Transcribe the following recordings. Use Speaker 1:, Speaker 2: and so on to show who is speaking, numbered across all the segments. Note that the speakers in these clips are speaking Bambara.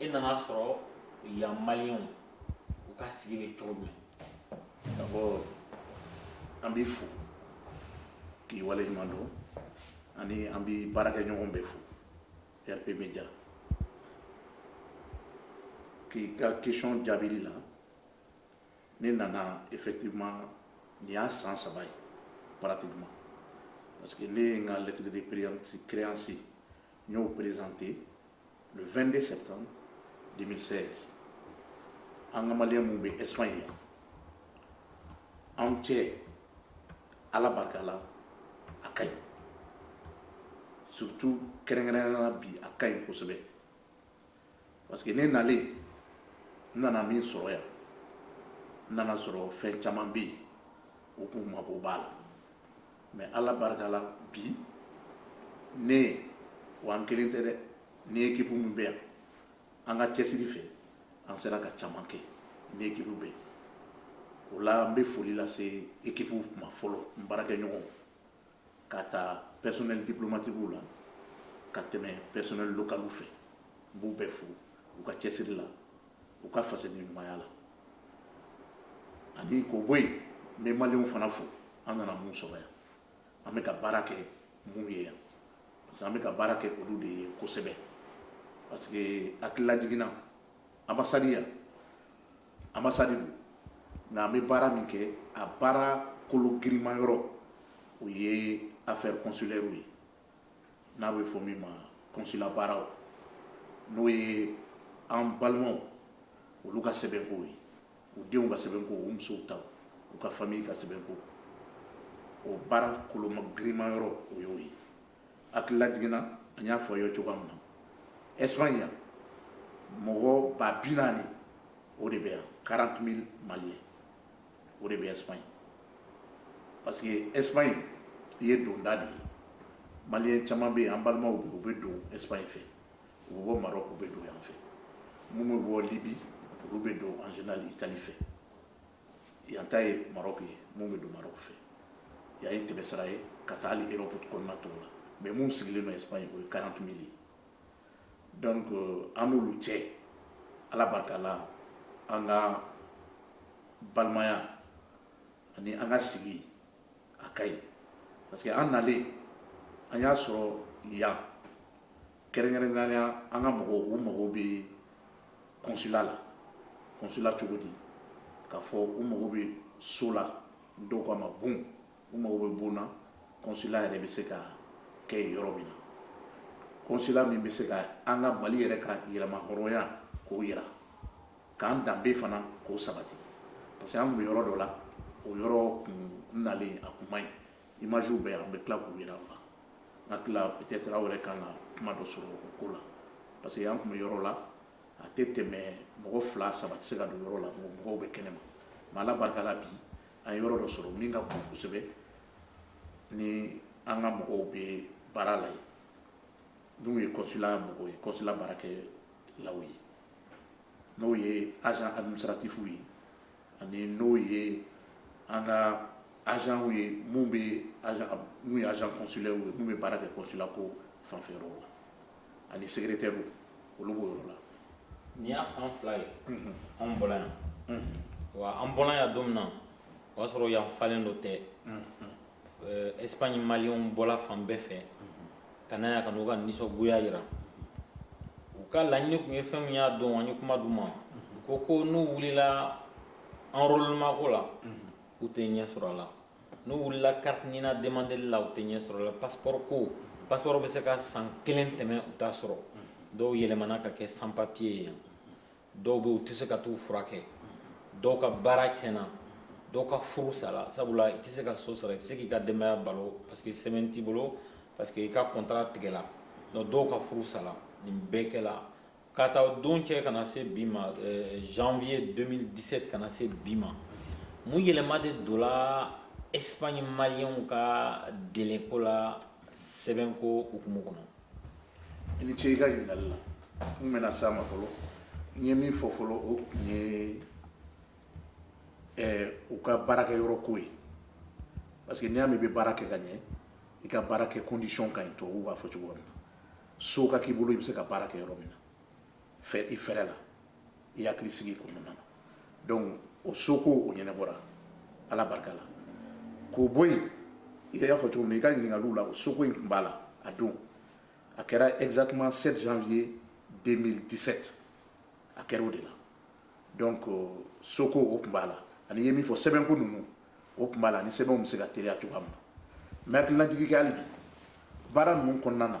Speaker 1: i nana a sɔrɔ yan maliyɛnw u ka sigi bɛ cogo jumɛn d'abord an b'i fo k'i wale ɲuman dɔn ani an b'i baarakɛɲɔgɔn bɛɛ fo rp media k'i ka question jaabili la ne nana effectivement nin y'a san saba ye pratiquement parce que ne ye n ka lettre de créance n y'o présenter le 22 septembre 2016 an ka maliyɛn minnu bɛ espagne yan an n'u cɛ ala barika la a ka ɲi surtout kɛrɛnkɛrɛnnenya la bi a ka ɲi kosɛbɛ parce que ne nalen n nana min sɔrɔ yan n nana a sɔrɔ fɛn caman bɛ yen o k'u mako b'a la mais ala barika la bi ne wa n kelen tɛ dɛ ni ekipu min bɛ yan an ka cɛsiri fɛ an sera ka caman kɛ ni ekipu bɛɛ ye o la n bɛ foli lase ekipu ma fɔlɔ n baarakɛɲɔgɔnw k'a ta pɛsonɛli diplomatikiw la ka tɛmɛ pɛsonɛli lokaliw fɛ n b'u bɛɛ fo u ka cɛsiri la u ka fasodenɲumanya la ani k'o bɔ yen n bɛ maliyɛnw fana fo an nana minnu sɔrɔ yan an bɛ ka baara kɛ minnu ye yan parce que an bɛ ka baara kɛ olu de ye kosɛbɛ parce que hakililajigin na ambasadi yan ambasadi don nka an bɛ baara min kɛ a baara kolo girinman yɔrɔ o ye affaire consulairew ye n'a bɛ fɔ min ma konsila baaraw n'o ye an balimaw olu ka sɛbɛn ko ye u denw ka sɛbɛn ko u musow ta u ka fami ka sɛbɛn ko o baara kolo girinman yɔrɔ o y'o ye hakililajigin na n y'a fɔ i ye cogoya min na espagne yan mɔgɔ ba bi naani o de bɛ yan quarante mille maliyɛn o de bɛ espagne parce que espagne ye donda de ye maliyɛn caman bɛ yen an balimaw dɔw bɛ don espagne fɛ u bɛ bɔ maroc u bɛ don yan fɛ minnu bɛ bɔ libye olu bɛ don en général italie fɛ yan ta ye maroc ye minnu bɛ don maroc fɛ yan ye tɛmɛsira ye ka taa ali europe kɔnɔna tɔw la mais minnu sigilen don espagne o ye quarante mille ye donc an n'olu cɛ ala barika la an ka balimaya ani an ka sigi a ka ɲi parce que an nalen an y'a sɔrɔ yan kɛrɛnkɛrɛnnenya an ka mɔgɔw u mago bɛ kɔnsula la kɔnsula cogo di k'a fɔ u mago bɛ so la dɔw k'a ma bon u mago bɛ bon na kɔnsula yɛrɛ bɛ se ka kɛ yen yɔrɔ min na kɔnsula min bɛ se ka an ka mali yɛrɛ ka yɛrɛmahɔrɔnya k'o yira k'an danbe fana k'o sabati parce que an tun bɛ yɔrɔ dɔ la o yɔrɔ tun nalen a tun man ɲi imagew bɛ yan bɛ tila k'u jira la n'a tila peut-être aw yɛrɛ ka na kuma dɔ sɔrɔ o ko la parce que an tun bɛ yɔrɔ la a tɛ tɛmɛ mɔgɔ fila saba tɛ se ka don yɔrɔ la mɔgɔ mɔgɔw bɛ kɛnɛ ma mais ala barika la bi an ye yɔrɔ dɔ sɔrɔ min ka bon kosɛbɛ ni an ka mɔgɔw bɛ baara la yen n'u ye kɔnsula mɔgɔw ye kɔnsula baarakɛlaw ye n'o ye agent administratifw ye ani n'o ye an ka agentw ye minnu bɛ n'u ye agent consulaire ye minnu bɛ baara kɛ kɔnsula ko fanfɛ yɔrɔ la ani secrétairew olu b'o yɔrɔ la nin y'a san fila ye anw bɔra yan wa an bɔra yan don min na o y'a sɔrɔ yan falen don tewu eh, espagne maliyɛnw bɔla fan bɛɛ fɛ ka na yan ka n'u ka nisɔngoya jira u ka laɲini tun ye fɛn min y'a don an ye kuma d'u ma u ko ko n'u wulila enrôlement ko la u tɛ ɲɛ sɔrɔ a la n'u wulila carte nina demandeli la u tɛ ɲɛ sɔrɔ a la passeport ko passeport bɛ se ka san kelen tɛmɛ u t'a sɔrɔ dɔw yɛlɛmana ka kɛ sans papier ye yan dɔw bɛ u tɛ se ka t'u furakɛ dɔw ka baara tiɲɛna dɔw ka furu sara sabula i tɛ se ka so sara i tɛ se k'i ka denbaya balo parce que sɛbɛn t'i bolo parce que i ka kɔntara tigɛla donc dɔw ka furu sara nin bɛɛ kɛla k'a ta o don cɛ ka na se bi ma euh, janvier 2017 ka na se bi ma mun yɛlɛma de donna espagne maliyɛnw ka deleko la sɛbɛnko hukumu kɔnɔ i ni ce i ka ɲininkali la n bɛna s'a ma fɔlɔ n ye min fɔ fɔlɔ o tun ye eh, u ka baarakɛ yɔrɔ ko ye parce que n'i y'a mɛn i bɛ baara kɛ ka ɲɛ i ka baara kɛ condition ka ɲi tubabuw b'a fɔ cogo min na so ka k'i bolo i bɛ se ka baara kɛ yɔrɔ min na i fɛrɛ la i hakili sigi o kɔnɔna na donc o soko o ɲɛnɛbɔra ala barika la k'o bɔ yen i y'a fɔ cogo min i ka ɲininkaliw la o soko in tun b'a la a don a kɛra exactement 7 janvier 2017 a kɛra o de la donc euh, soko o tun b'a la ani i ye min fɔ sɛbɛnko ninnu o tun b'a la ani sɛbɛnw bɛ se ka teriya cogoya min na n bɛ hakilinajigi kɛ hali bi baara ninnu kɔnɔna na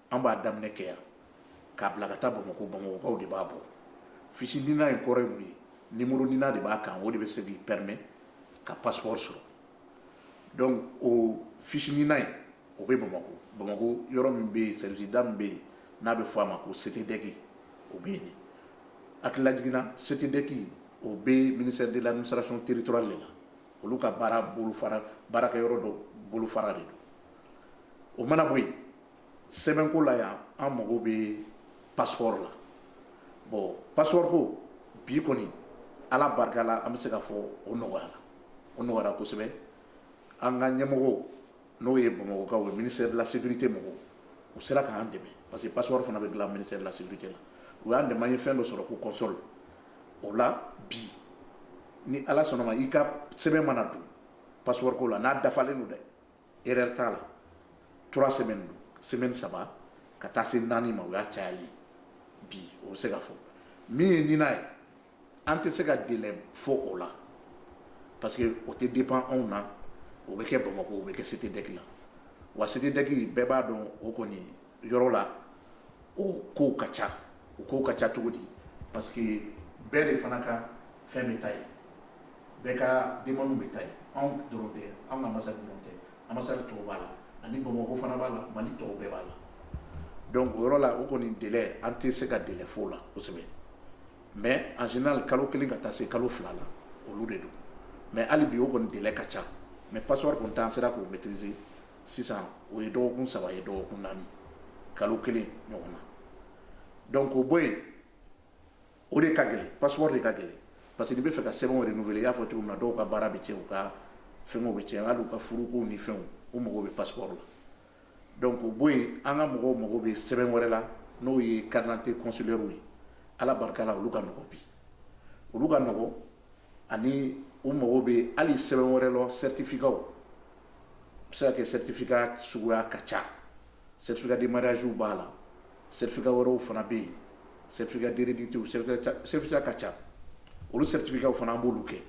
Speaker 1: an b'a daminɛ kɛ yan k'a bila ka taa bamakɔ bamakɔkaw de b'a bɔ fiche NINA ye kɔrɔ mun ye numéro NINA de b'a kan o de bɛ se k'i permet ka passeport sɔrɔ donc o fiche NINA ye o bɛ bamakɔ bamakɔ yɔrɔ min bɛ yen selida min bɛ yen n'a bɛ fɔ a ma ko CTDEC o bɛ yen a hakililajigin na CTDEC o bɛ ministère de l'administration territoriale de la olu ka baara bolofara baarakɛyɔrɔ dɔ bolofara de don o mana bɔ yen sɛbɛnko la yan an mago bɛ passeport la bon passeport ko bi kɔni Ala barika la an bɛ se k'a fɔ o nɔgɔyara o nɔgɔyara kosɛbɛ an ka ɲɛmɔgɔw n'o ye Bamakɔkaw ye ministère de la sécurité mɔgɔw u sera k'an dɛmɛ parce que passeport fana bɛ dilan ministère de la sécurité la u y'an dɛmɛ an ye fɛn dɔ sɔrɔ ko console o la bi ni Ala sɔnna ma i ka sɛbɛn mana don passeport ko la n'a dafalen don dɛ erreur t'a la trois semaines don semaine saba ka taa se naani ma o y'a cayali bi o bɛ se ka fɔ min ye NINA ye an tɛ se ka délai fɔ o la parce que o tɛ dépend anw na o bɛ kɛ Bamakɔ o bɛ kɛ CTDEC la wa CTDEC bɛɛ b'a dɔn o kɔni yɔrɔ la o kow ka ca o kow ka ca cogo di parce que bɛɛ de fana ka fɛn bɛ taa yen bɛɛ ka demande bɛ taa yen, anw dɔrɔn tɛ, anw ka ambassade dɔrɔn tɛ, ambassade tɔw b'a la ani Bamakɔ fana b'a la, Mali tɔw bɛɛ b'a la donc o yɔrɔ la o kɔni délai an tɛ se ka délai fɔ o la kosɛbɛ mais en général kalo kelen ka taa se kalo fila la olu de don mais hali bi o kɔni délai ka ca mais passeport kɔni ta an sera k'o maîtriser sisan o ye dɔgɔkun saba ye dɔgɔkun naani kalo kelen ɲɔgɔn na donc o bɔ yen O de ka gɛlɛn passeport de ka gɛlɛn parce que n'i bɛ fɛ ka sɛbɛnw renouveller i y'a fɔ cogo min na dɔw ka baara bɛ cɛn u ka fɛnkɛw bɛ cɛn hali u ka furukow ni fɛnw u mago bɛ passeport la donc o bɔ yen an ka mɔgɔw mago bɛ sɛbɛn wɛrɛ la n'o ye carte d'identité consulaire ye Ala barika la olu ka nɔgɔn bi olu ka nɔgɔn ani u mago bɛ hali sɛbɛn wɛrɛ la certificat u bɛ se ka kɛ certificat suguya ka ca certificat de mariage b'a la certificat wɛrɛw fana bɛ yen certificat dti certificat ka ca olu certificat fana an b'olu kɛ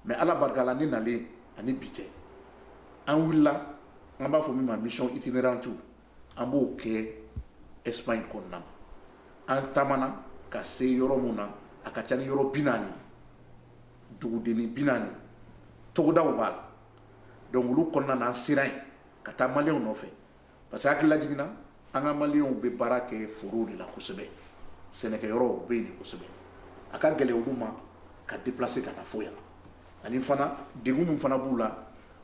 Speaker 1: mais ala barika la ne nalen ani bi cɛ an wulila an b'a fɔ min ma mission itinérante an b'o kɛ Espagne kɔnɔna an taamana ka se yɔrɔ min na a ka ca ni yɔrɔ bi naani duguden bi naani togodaw b'a la donc olu kɔnɔna an sera yen ka taa maliɛnw nɔfɛ parce que hakili lajiginna an ka maliyɛnw bɛ baara kɛ forow de la kosɛbɛ sɛnɛkɛyɔrɔw bɛ yen de kosɛbɛ a ka gɛlɛn olu ma ka déplacer ka na fo yan ani fana degun min fana b'u la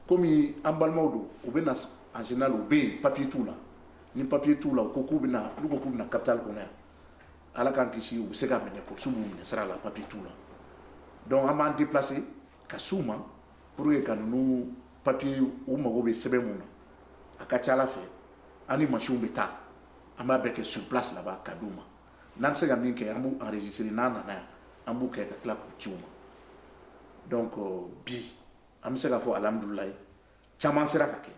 Speaker 1: komi an balimaw don u bɛ na en général u bɛ yen papier t'u la ni papier t'u la u ko k'u bɛ na n'u ko k'u bɛ na capitale kɔnɔ yan ala k'an kisi u bɛ se ka minɛ polisiw b'u minɛ sira la papier t'u la donc an b'an déplacer ka s'u ma Pur ye ka ninnu papiye u mago bɛ sɛbɛn min na a ka ca ala fɛ an ni masinw bɛ taa an b'a bɛɛ kɛ sur place ka di u ma n'an bɛ se ka min kɛ an b' anz n'an nana yan an b'u kɛ ka tila k'u ci u ma donc bi an bɛ se k'a fɔ alihamudulilayi caman sera ka kɛ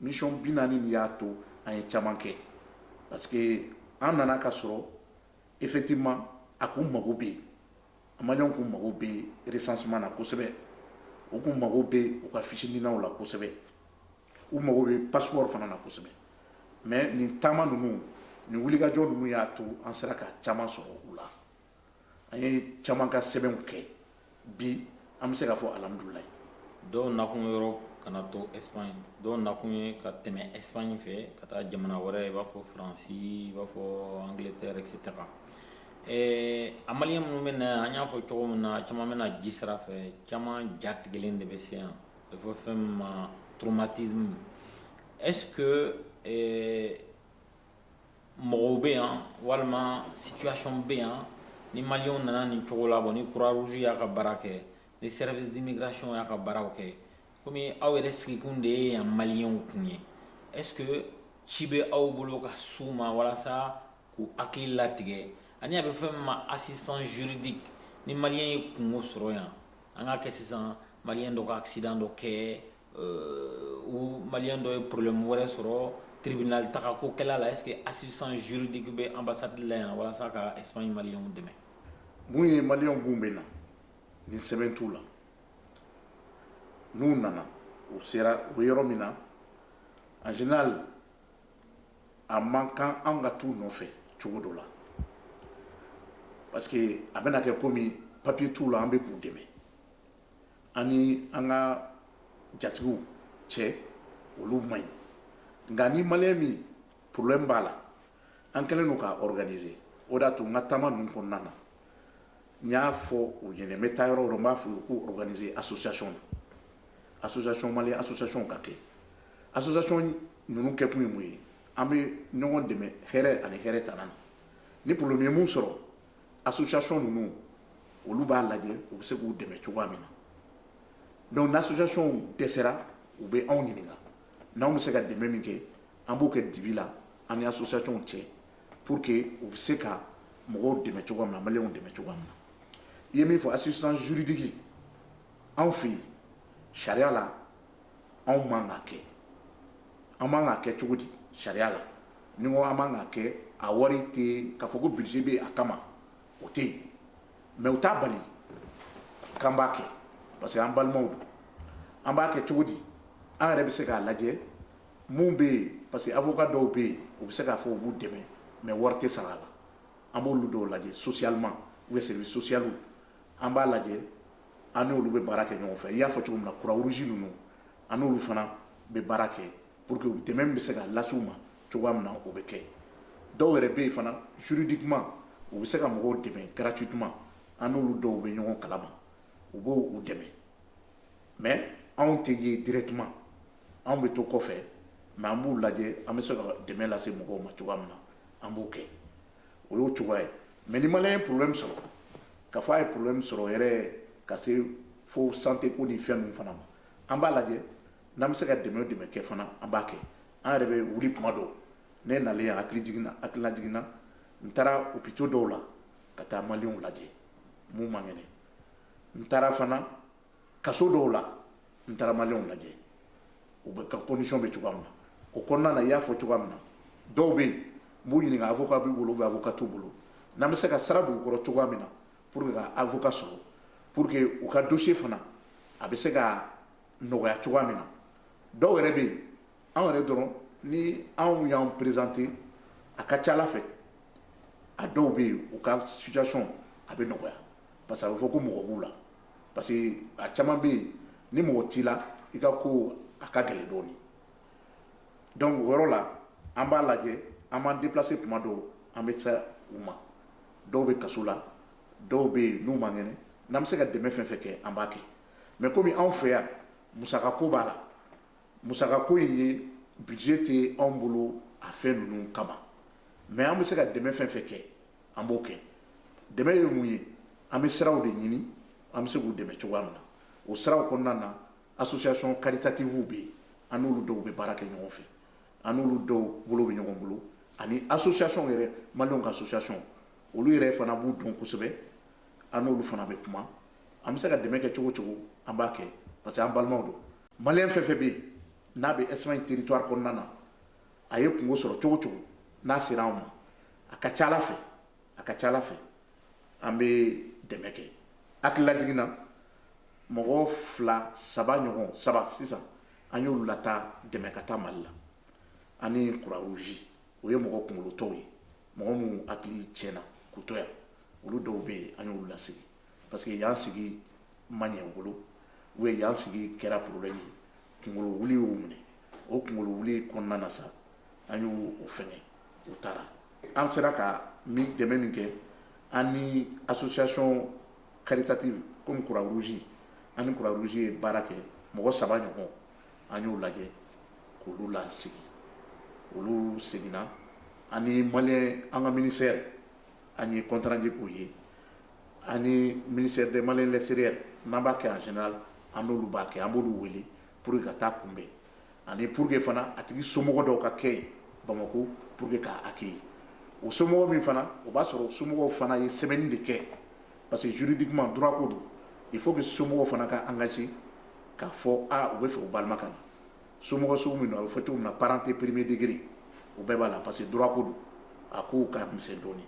Speaker 1: mission bi naani nin y'a to an ye caman kɛ parce que an nana ka sɔrɔ effectivement a ko mago bɛ yen An b'a dɔn k'u mago bɛ recensement na kosɛbɛ k'u mago bɛ u ka fiche ninaw la kosɛbɛ u mago bɛ passeport fana na kosɛbɛ mɛ nin taama ninnu ni wulikajɔ ninnu y'a to an sera ka caman sɔrɔ u la an ye caman ka sɛbɛnw kɛ bi an bɛ se k'a fɔ alihamudulilayi dɔw nakun yɔrɔ ka na to Espagne dɔw nakun ye ka tɛmɛ Espagne fɛ ka taa jamana wɛrɛ i b'a fɔ faransi i b'a fɔ Angleterre et cetera Ɛɛ a maliyɛn minnu bɛ na yan an y'a fɔ cogo min na caman bɛ na ji sira fɛ caman ja tigɛlen de bɛ se yan a bɛ fɔ fɛn min ma traumatisme est ce que mɔgɔw bɛ yan walima association bɛ yan ni maliyɛnw nana nin cogo la bon ni Croix-Rouge y'a ka baara kɛ ni service d'immigration y'a ka baaraw kɛ komi aw yɛrɛ sigikun de ye yan maliyɛnw kun ye est ce que ci bɛ aw bolo ka s'u ma walasa k'u hakili latigɛ ani a bɛ fɛn min ma assistance juridique ni maliyɛn ye kunko sɔrɔ yan an k'a kɛ sisan maliyɛn dɔ ka accident dɔ kɛ euh, ou maliyɛn dɔ ye problème wɛrɛ sɔrɔ tribunal tagako kɛla a la est ce que assistance juridique bɛ ambassade la yan walasa ka Espagne maliyɛnw dɛmɛ mun ye maliyɛnw b'u bɛ na ni sɛbɛn t'u la n'u nana u sera u bɛ yɔrɔ min na en général a man kan an ka t'u nɔfɛ cogo dɔ la parce que a bɛna kɛ komi papier t'u la an bɛ k'u dɛmɛ an ni an ka jatigiw cɛ olu man ɲi nka ni maliyɛn min problème b'a la an kɛlen don k'a organiser o de y'a to n ka taama ninnu kɔnɔna na N y'a fɔ u ye n bɛ taa yɔrɔ yɔrɔ b'a fɔ u ko oe association na association mali association ka kɛ association ninnu kɛ kun ye mun ye an bɛ ɲɔgɔn dɛmɛ hɛrɛ ani hɛrɛ tana na ni problème y'u sɔrɔ association ninnu olu b'a lajɛ u bɛ se k'u dɛmɛ cogoya min na donc ni association dɛsɛra u bɛ anw ɲininka n'an bɛ se ka dɛmɛ min kɛ an b'o kɛ dibi la an ni associationw cɛ pour que u bɛ se ka mɔgɔw dɛmɛ cogo min na maliw dɛmɛ cogo min na i ye min fɔ assistance juridique anw fɛ yen sariya la anw man ka kɛ an man ka kɛ cogo di sariya la n'i ko an man ka kɛ a wari tɛ k'a fɔ ko budget bɛ a kama o tɛ yen mais o t'a bali k'an b'a kɛ parce que an balimaw don an b'a kɛ cogo di an yɛrɛ bɛ se k'a lajɛ Minnu bɛ yen parce que avocat dɔw bɛ yen u bɛ se k'a fɔ u b'u dɛmɛ mais wari tɛ sara a la an b'olu dɔw lajɛ socialement ou service social an b'a lajɛ an n'olu bɛ baara kɛ ɲɔgɔn fɛ i y'a fɔ cogo min na Croix-Rouge ninnu an n'olu fana bɛ baara kɛ pour que dɛmɛ bɛ se ka lase u ma cogoya min na o bɛ kɛ dɔw yɛrɛ bɛ yen fana juridiquement u bɛ se ka mɔgɔw dɛmɛ gratuitement an n'olu dɔw bɛ ɲɔgɔn kalama u b'u dɛmɛ mais anw tɛ ye directement anw bɛ to kɔfɛ mais an b'u lajɛ an bɛ se ka dɛmɛ lase mɔgɔw ma cogoya min na an b'o kɛ o y'o cogoya ye mais ni maliyɛn ye problème sɔrɔ k'a fɔ a ye problème sɔrɔ yɛrɛ ka se fo santé ko ni fɛn ninnu fana ma an b'a lajɛ n'an bɛ se ka dɛmɛ dɛmɛ kɛ fana an b'a kɛ an yɛrɛ bɛ wuli tuma dɔw ne nalen yan hakili jiginna hakilina jiginna n taara hôpitaux dɔw la ka taa maliyɛnw lajɛ minnu man kɛnɛ n taara fana kaso dɔw la n taara maliyɛnw lajɛ u bɛ u ka condition bɛ cogoya min na o kɔnɔna na i y'a fɔ cogoya min na dɔw bɛ yen n b'u ɲininka avocat b'u bolo ou avocat t'u bolo n'an bɛ se ka sara don u kɔrɔ cogoya min na pour que u ka avocat sɔrɔ pour que u ka dossier fana a bɛ se ka nɔgɔya cogoya min na dɔw yɛrɛ bɛ yen anw yɛrɛ dɔrɔn ni anw y'an présenter a ka ca a la fɛ a dɔw bɛ yen u ka situation a bɛ nɔgɔya parce que a bɛ fɔ ko mɔgɔ b'u la parce que a caman bɛ yen ni mɔgɔ t'i la i ka ko a ka gɛlɛn dɔɔnin donc o yɔrɔ la an b'a lajɛ an b'an déplacer tuma dɔw an bɛ se u ma dɔw bɛ kaso la dɔw bɛ yen n'u man kɛnɛ n'an bɛ se ka dɛmɛ fɛn fɛn kɛ an b'a kɛ mais komi anw fɛ yan musaka ko b'a la musaka ko in ye budget tɛ anw bolo a fɛn ninnu kama mais an bɛ se ka dɛmɛ fɛn fɛn kɛ an b'o kɛ dɛ ye mun ye an bɛ siraw de ɲini an bɛ se k'u dɛmɛ cogoya min na o siraw kɔnɔna na association caritative bɛ yen an n'olu dɔw bɛ baara kɛ ɲɔgɔn fɛ an n'olu dɔw bolo bɛ ɲɔgɔn bolo ani association yɛrɛ ma ka association olu yɛrɛ fana b'u dun kosɛbɛ an n'olu fana bɛ kuma an bɛ se ka dɛmɛ kɛ cogo cogo an b'a kɛ parce que an balimaw don malien fɛn fɛn bɛ yen n'a bɛ Espagne territoire kɔnɔna na a ye kunko sɔrɔ cogo cogo n'a sera anw ma a ka ca a la fɛ a ka ca a la fɛ an bɛ dɛmɛ kɛ hakililajigin na mɔgɔ fila saba ɲɔgɔn saba sisan an y'olu lataa dɛmɛ ka taa mali la ani Croix-Rouge o ye mɔgɔ kunkolotɔw ye mɔgɔ minnu hakili tiɲɛna k'u to yan olu dɔw bɛ yen an y'olu lasegin parce que yan sigi ma ɲɛ u bolo yan sigi kɛra problème ye kunkolo wuli y'u minɛ o kunkolo wuli kɔnɔna na sa an y'o fɛnkɛ u taara an sera ka min dɛmɛ min kɛ an ni association caritative comme Croix-Rouge an ni Croix-Rouge ye baara kɛ mɔgɔ saba ɲɔgɔn an y'o lajɛ k'olu lasegin olu seginna ani ma an ka ministère an ye contrat ko ye an ni ministère des maliens de l'extérieur n'an b'a kɛ en général an n'olu b'a kɛ an b'olu wele pour que ka taa kunbɛn ani pour que fana a tigi somɔgɔ dɔw ka kɛ yen Bamako pour que k'a accueillir o somɔgɔ min fana o b'a sɔrɔ somɔgɔw fana ye sɛbɛnni de kɛ parce que juridiquement droit ko don il faut que somɔgɔw fana ka engager k'a fɔ u b'a fɛ u balima ka na somɔgɔ sugu min don a bɛ fɔ cogo min na parent premier degré o bɛɛ b'a la parce que droit ko don a kow ka misɛn dɔɔnin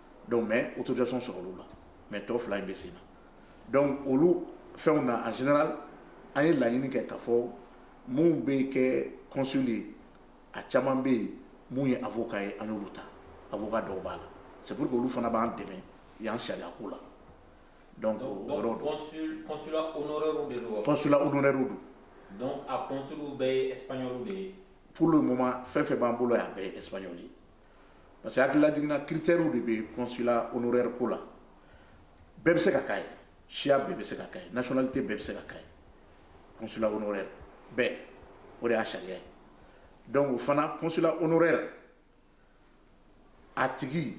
Speaker 1: donc mais autorisation sɔrɔ olu la mais tɔ fila in bɛ sen na donc olu fɛnw na en général an ye laɲini kɛ k'a fɔ minnu bɛ kɛ consul ye a caman bɛ yen minnu ye avocat ye an y'olu ta avocat dɔw b'a la c'est pour que olu fana b'an dɛmɛ yan sariya ko la donc o yɔrɔ don consulat honoraire de don consulat honoraire don donc a consul bɛɛ ye espagnol de ye pour le moment fɛn fɛn b'an bolo yan a bɛɛ ye espagnol ye parce que hakililajigin na critères de bɛ consulat honoraire ko la bɛɛ bɛ se ka k'a ye siya bɛɛ bɛ se ka k'a ye nationalité bɛɛ bɛ se ka k'a ye consulat honoraire bɛɛ o de y'a sariya ye donc o fana consulat honoraire a tigi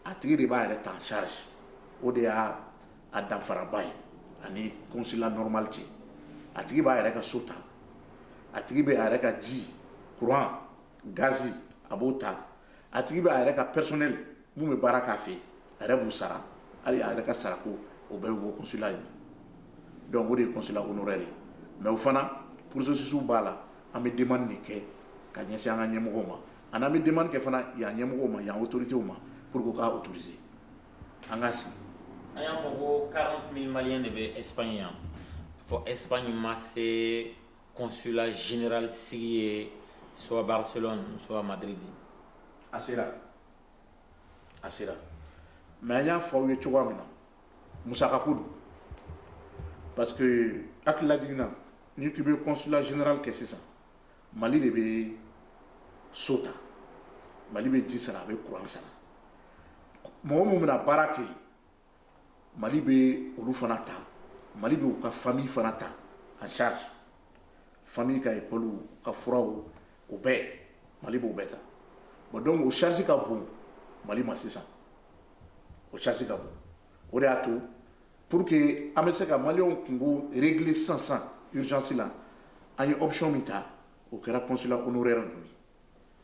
Speaker 1: a tigi de b'a yɛrɛ ta en charge o de y'a a danfaraba ye ani consulat normal cɛ a tigi b'a yɛrɛ ka so ta a tigi bɛ a yɛrɛ ka ji courant gaz a b'o ta a tigi bɛ a yɛrɛ ka personnel min bɛ baara k'a fɛ a yɛrɛ b'u sara hali a yɛrɛ ka sarako o bɛ wosila ye donc o de ye consulat honoraire ye mais o fana processus b'a la an bɛ demande kɛ ka ɲɛsin an ka ɲɛmɔgɔ ma an bɛ demande kɛ fana yan ɲɛmɔgɔ ma yan autorité ma pour k'se an ka sigi a y'a fɔ ko de bɛ Espagne yan fɔ Espagne ma se Consulat général sigi ye soit Barcelone soit Madrid a sera a sera mais an y'a fɔ aw ye cogoya min na musakako don parce que hakililajigin na ni k'i bɛ consulat général kɛ sisan mali de bɛ so ta mali bɛ ji sara a bɛ kuran sara mɔgɔ minnu bɛna baara kɛ yen mali bɛ olu fana ta mali b'u ka famille fana ta les enfants ka école ka frais o bɛɛ mali b'o bɛɛ ta o donc o charge ka bon mali ma sisan o charge ka bon o de y'a to pour que an bɛ se ka malienw kunko régler sansan urgence la an ye option min ta o kɛra consulat honoraire ninnu ye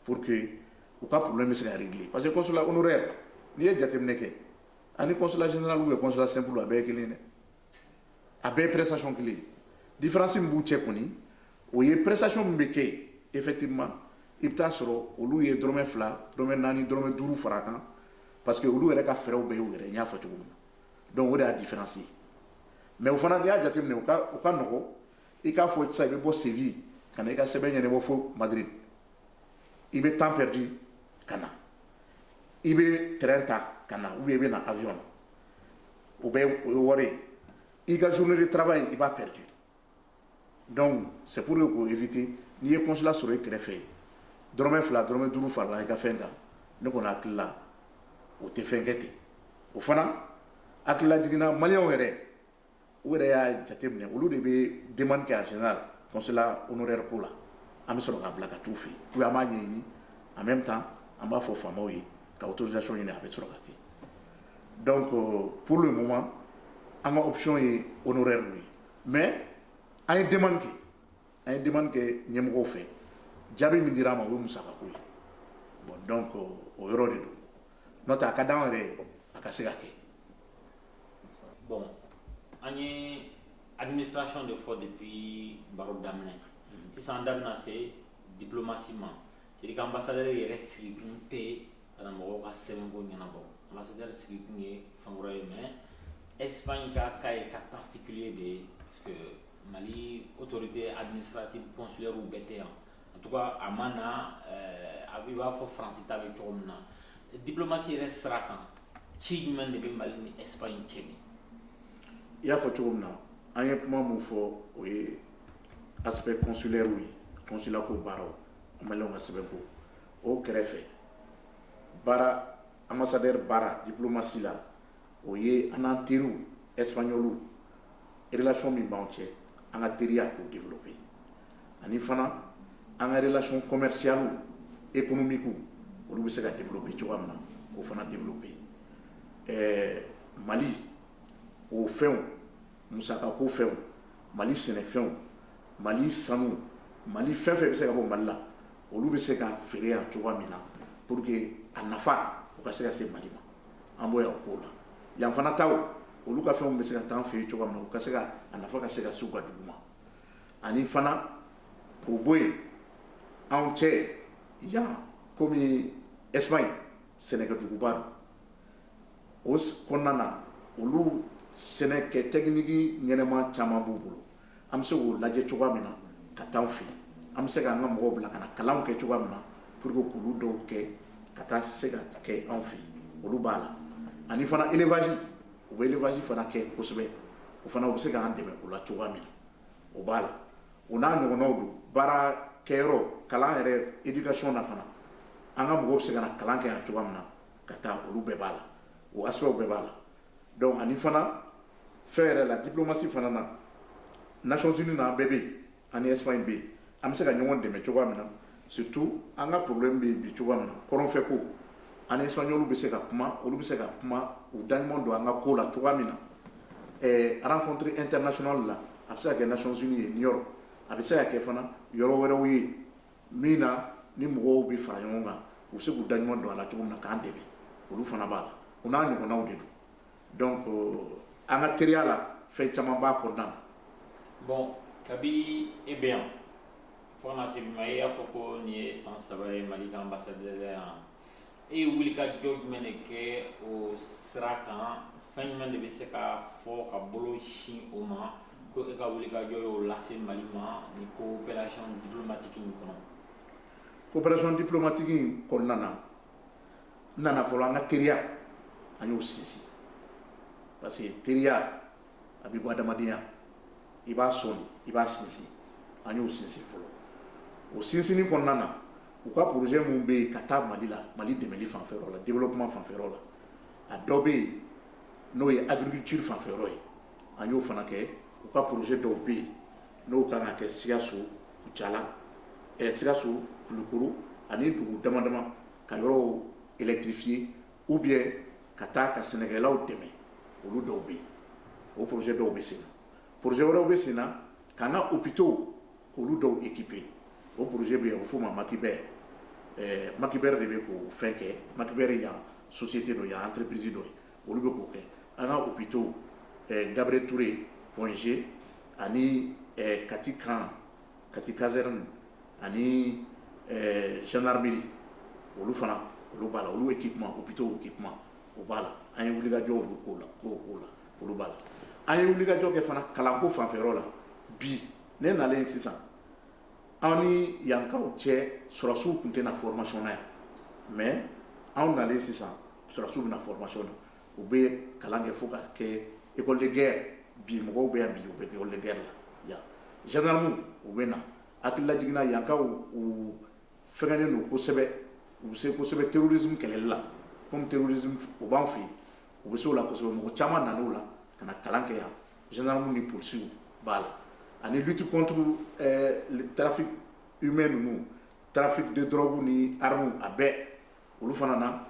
Speaker 1: pour que u ka problème bɛ se ka régler parce que consulat honoraire n'i ye jateminɛ kɛ ani consulat général ou consulat simple a bɛɛ ye kelen ye a bɛɛ ye prestation kelen ye différence min b'u cɛ kɔni o ye prestation min bɛ kɛ yen effectivement i bɛ taa sɔrɔ olu ye dɔrɔmɛ fila dɔrɔmɛ naani dɔrɔmɛ duuru fara a kan parce que olu yɛrɛ ka frais bɛɛ y'u yɛrɛ n y'a fɔ cogo min na donc o de y'a différence ye mais o fana n'i y'a jateminɛ o ka o ka nɔgɔ ni k'a fɔ sisan i bɛ bɔ Séville ka na i ka sɛbɛn ɲɛnabɔ fo Madrid i bɛ temps perdu ka na i bɛ tɛrɛn ta ka na ou bien i bɛ na avion o bɛɛ ye wari i ka journée de travail i b'a perdu donc c'est pour que k'o éviter n'i ye consulat sɔrɔ i kɛrɛfɛ yen dɔrɔmɛ fila dɔrɔmɛ duuru farala i ka fɛn kan ne kɔni hakili la o tɛ fɛnkɛ ten o fana hakililajigin na maliw yɛrɛ u yɛrɛ y'a jate minɛ olu de bɛ demande kɛ en général consulat honoraire ko la an bɛ sɔrɔ k'a bila ka t'u fɛ yen ou bien an b'a ɲɛɲini en même temps an b'a fɔ faamaw ye ka autorisation ɲini a bɛ sɔrɔ ka kɛ donc pour le moment an ka option ye honoraire ninnu ye mais an ye demande kɛ an ye demande kɛ ɲɛmɔgɔw fɛ jaabi min dira an ma o ye musakako ye bon donc o yɔrɔ de don n'o tɛ a ka d'an yɛrɛ ye a ka se ka kɛ Bon an ye administration de fɔ depuis baro daminɛ mhm. sisan an da bɛna se diplomasi ma c'est-à-dire ambassadeur yɛrɛ sigikun tɛ ka taa mɔgɔw ka sɛbɛnko ɲɛnabɔ ambassadeur sigikun ye fɛn wɛrɛ ye mais Espagne ka cas ye cas particulier de ye parce que Mali autorité administrative consulaire bɛɛ tɛ yan en tout cas a ma na euh, a b'i b'a fɔ France ta bɛ cogo min na diplomasi yɛrɛ sira kan ci jumɛn de bɛ Mali ni Espagne cɛ bi i y'a fɔ cogo min na an ye kuma min fɔ o ye aspect consulaire ye consulat ko baaraw maliyɛnw ka sɛbɛn ko o kɛrɛfɛ baara ambassadeur baara diplomasi la o ye an n'an teriw espagnol relation min b'an cɛ an ka teriya k'o développer ani fana an ka relation commerciale économique olu bɛ se ka développer cogoya min na k'o fana développer ɛɛ Mali o fɛnw musakako fɛnw Mali sɛnɛfɛnw Mali sanu Mali fɛn fɛn bɛ se ka bɔ Mali la olu bɛ se ka feere yan cogoya min na pour que a nafa o ka se ka se Mali ma. an bɔ ko la yan fana taa olu ka fɛnw bɛ se ka taa an fɛ yen cogo min na ka se a nafa ka se ka s'u ka dugu ma ani fana o bɔ yen anw cɛ yan kɔmi Espagne ye sɛnɛkɛ duguba don o kɔnɔna na olu sɛnɛkɛ tɛkiniki ɲɛnama caman b'u bolo an bɛ se k'o lajɛ cogoya min na ka taa fɛ an bɛ se k'an ka mɔgɔw bila ka na kalan kɛ cogoya min na pour que kulu dɔw kɛ ka taa se ka kɛ anw fɛ olu b'a la ani fana élevage u bɛ élevage fana kɛ kosɛbɛ o fana u bɛ se k'an dɛmɛ o la cogoya min na o b'a la u n'a ɲɔgɔnw don baara kɛ kalan yɛrɛ éducation na fana an ka mɔgɔw bɛ se ka na kalan kɛ yan cogoya min na ka taa olu bɛɛ b'a la o a bɛɛ b'a la donc ani fana fɛn yɛrɛ la diplomasi fana na Nations Unies na bɛɛ bɛ ani Espagne bɛ yen an bɛ se ka ɲɔgɔn dɛmɛ cogoya min na surtout an ka problème bɛ bi cogoya min na kɔrɔnfɛ ko ani Espagne bɛ se ka kuma olu bɛ se ka kuma u da ɲuman don an ka ko la cogoya min na ɛɛ rencontre internationale la a bɛ se ka kɛ Nations Unies ye a bɛ se ka kɛ fana yɔrɔ wɛrɛw ye min na ni mɔgɔw bɛ fara ɲɔgɔn kan u bɛ se k'u da ɲuman don a la cogo min na k'an dɛmɛ olu fana b'a la u n'a ɲɔgɔnnaw de don donc an ka teriya la fɛn caman b'a kɔnɔna na bon kabi e bɛ yan fo ka na se bi ma e y'a fɔ ko nin ye san saba ye Mali ka ambassadeurya yan e ye wulikajɔ jumɛn de kɛ o sira kan fɛn jumɛn de bɛ se ka fɔ ka bolo sin o ma ko e ka wulikajɔ y'o lase Mali ma nin coopération diplomatique in kɔnɔ coopération diplomatique in kɔnɔna na n nana fɔlɔ an ka teriya an y'o sinsin parce que teriya a bɛ bɔ adamadenya i b'a sɔn i b'a sinsin an y'o sinsin fɔlɔ o sinsinni kɔnɔna na u ka projet minnu bɛ yen ka taa mali la mali dɛmɛli fan la développement fanfɛ yɔrɔ la a dɔ bɛ yen n'o ye agriculture fanfɛ yɔrɔ ye an y'o fana kɛ u ka projet dɔw bɛ yen n'o ka kɛ sikaso kucala sikaso kulikoro ani dugu dama dama ka yɔrɔw électrifier u bɛ ka taa ka sɛnɛkɛlaw dɛmɛ olu dɔw bɛ yen o projet dɔw bɛ sen na projet wɛrɛw bɛ sen na u bɛ to olu dɔw équipé o projet bɛ yen, a bɛ f'o ma Makibɛr, ɛɛ Makibɛr de bɛ k'o fɛn kɛ, Makibɛr ye yan société dɔ ye, yan entreprise dɔ ye, olu bɛ k'o kɛ an ka hôpitaux, ɛɛ Gabiriyɛli Ture point G ani ɛɛ Kati camp, Kati caserne ani ɛɛ gendarmerie olu fana olu b'a la, olu équipement, hôpitaux équipement o b'a la, an ye wulikajɔ olu k'o la, k'o k'o la, olu b'a la, an ye wulikajɔ kɛ fana kalanko fanfɛ yɔrɔ la bi, ne nalen sisan an ni yankaw cɛ sɔrɔdasiw tun tɛ na formation na yan mais anw nalen sisan sɔrɔdasiw bɛ na formation na u bɛ kalan kɛ fo ka kɛ école de guerre bi mɔgɔw bɛ yan bi u bɛ école de guerre la yan gendarmes u bɛ na hakililajigin na yankaw u fɛngɛnen don kosɛbɛ u bɛ se kosɛbɛ terrorisme kɛlɛli la comme terrorisme u b'an fɛ yen u bɛ se o la kosɛbɛ mɔgɔ caman nana o la ka na kalan kɛ yan Zandaramuw ni polisiw b'a la ani lutte contre trafic humain ninnu trafic de drogue ni armew a bɛɛ olu fana na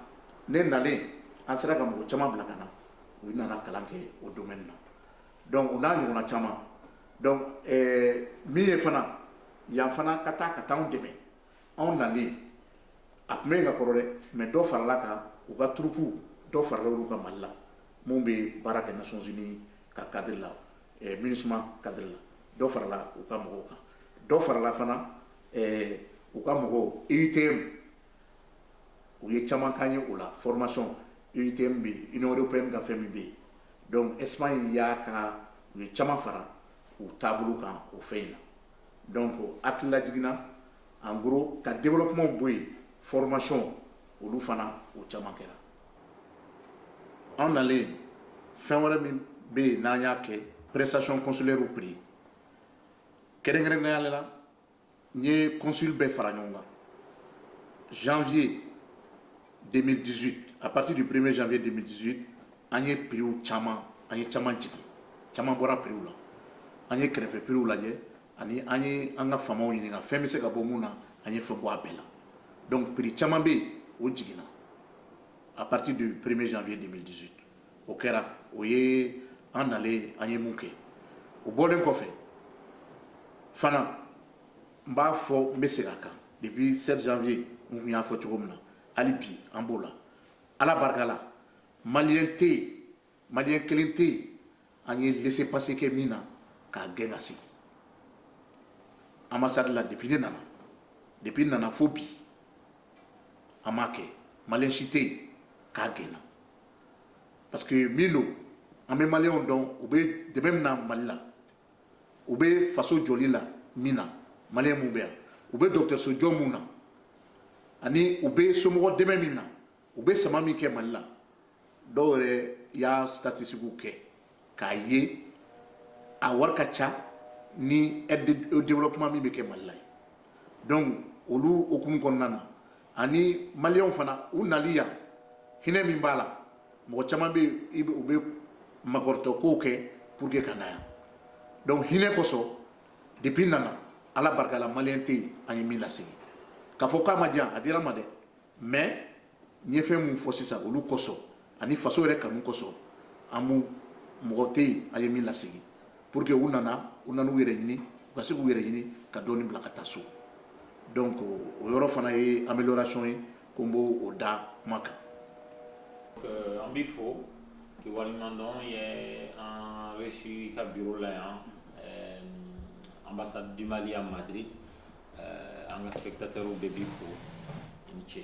Speaker 1: ne nalen an sera ka mɔgɔ caman bila ka na u nana kalan kɛ o domaine na donc u n'a ɲɔgɔnna caman donc min ye fana yan fana ka taa ka t'an dɛmɛ anw nalen a tun bɛ yen ka kɔrɔ dɛ mais dɔ farala a kan u ka troupe dɔ farala olu kan mali la minnu bɛ baara kɛ nations unies ka kadiri la eh, MINUSMA kadiri la dɔ farala u ka mɔgɔw kan dɔ farala fana eh, u ka mɔgɔw EUTM u ye caman k'an ye o la formation EUTM bɛ yen Union européenne ka fɛn min bɛ yen donc Espagne y'a ka u ye caman fara u taabolo kan o fɛn in na Donc hakililajigin na en gros ka développement bɔ yen formation olu fana o caman kɛra an nalen fɛn wɛrɛ min bɛ yen n'an y'a kɛ prestation consulaire prix kɛrɛnkɛrɛnnenya la n ye consul bɛɛ fara ɲɔgɔn kan janvier 2018 à partir du 1er janvier 2018 an ye prix caman an ye caman jigin caman bɔra prix la an ye kɛrɛfɛ prix lajɛ ani an ye an ka faamaw ɲininka fɛn bɛ se ka bɔ mun na an ye fɛn bɔ a bɛɛ la donc prix caman bɛ yen o jiginna à partir du 1er janvier 2018 o kɛra o ye an nalen an ye mun kɛ o bɔlen kɔfɛ fana n b'a fɔ n bɛ segin a kan depuis 7 janvier n tun y'a fɔ cogo min na hali bi an b'o la ala barika la maliyɛn tɛ yen maliyɛn kelen tɛ yen an ye laisser passer kɛ min na k'a gɛn ka sigi ambassade la depuis ne nana depuis n nana fo bi an m'a kɛ maliyɛn si tɛ yen k'a gɛnna parce que min don an bɛ maliyɛnw dɔn u bɛ dɛmɛ min na mali la u bɛ faso jɔli la min na maliyɛn minnu bɛ yan u bɛ dɔgɔtɔrɔso jɔ minnu na ani u bɛ somɔgɔ dɛmɛ min na u bɛ sama min kɛ mali la dɔw yɛrɛ y'a statistikiw kɛ k'a ye a wari ka ca ni aide au développement min bɛ kɛ mali la ye donc olu hukumu kɔnɔna na ani maliw fana u nali yan hinɛ min b'a la mɔgɔ caman bɛ yen u bɛ makɔrɔtɔ ko kɛ pour que ka na yan donc hinɛ kosɔn depuis n nana ala barikala maliyɛn tɛ yen an ye min lasegin k'a fɔ k'a ma di yan a dira an ma dɛ mais n ye fɛn min fɔ sisan olu kosɔn ani faso yɛrɛ kanu kosɔn an b'u mɔgɔ tɛ yen an ye min lasegin pour que u nana u nana u yɛrɛ ɲini u ka se k'u yɛrɛ ɲini ka dɔɔni bila ka taa so donc o yɔrɔ fana ye amélioration ye ko n b'o da kuma kan. Euh, an b'i fo k'i waleɲuman dɔn i ye an reçu i ka bureau la yan euh, ambassade du Mali à Madrid euh, an ka spectateurs bɛɛ b'i fo i ni ce.